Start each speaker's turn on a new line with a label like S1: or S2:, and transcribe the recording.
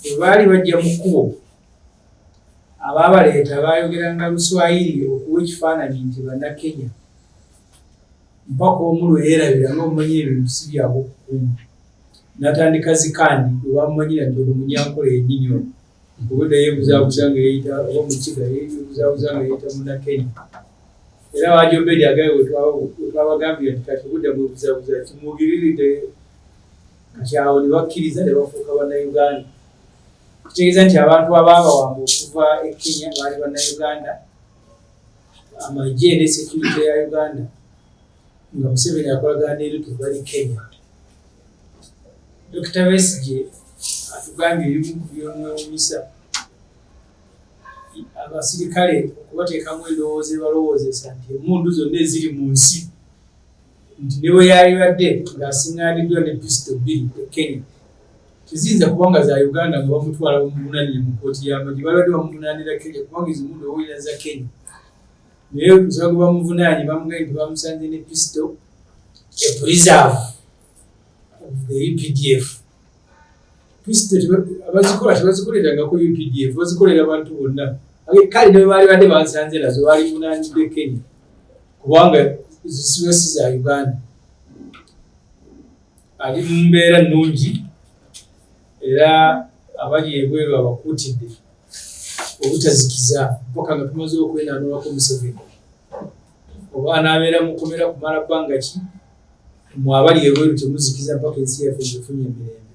S1: Bwe baali bajja mu kkubo, abaabaleeta baayogeranga Luswayiri okuwa ekifaananyi nti Bannakenya. Mpaka omu lwe yeerabira ng'omumanyi ebintu si bya bukkumu n'atandika zikaandi bwe bamumanyira nti ono Munyankole yennyini ono okubadde yeebuzaabuza nga yeeyita oba Mukiga yeebuzaabuza nga yeeyita Munnakenya. Era Wajombedi agaye we twabagambira nti kati obudda bwebuzaabuza kimwogiriridde kati awo ne bakkiriza ne bafuuka bannayuganda kitegeeza nti abantu abaabawamba okuva e kenya baali bannayuganda amagye ne security ya uganda nga museveni akolagana neruto bali kenya dokita besige atugambye ebimu ku byomwewunyisa abasirikale okubateekamu endowooza ebalowoozesa nti emundu zonna eziri mu nsi nti ne bwe yalibadde ng'asiŋŋaaniddwa ne pisito bbiri e Kenya teziyinza kuba nga za Uganda nga bamutwala bamuvunaanire mu kkooti y'amagye balibadde bamuvunaanira Kenya kubanga ezo mundu owulira za Kenya naye omusaba gwe bamuvunaanye bamugambye nti bamusanze ne pisito e preserve of the UPDF e bazikola tebazikoleranga ku updf bazikolera abantu bonna kale nebaali badde bansanze nazo baali munanidde kenya kubanga zisiba si za uganda ali mu mbeera nnungi era abali ebweru abakuutidde obutazikiza mpaka nga tumaze okwenanulako museveni oba anaabeera mukomera kumala bbanga ki mwe abali ebweru temuzikiza mpaka ensi yaffe ng'efunye emirembe.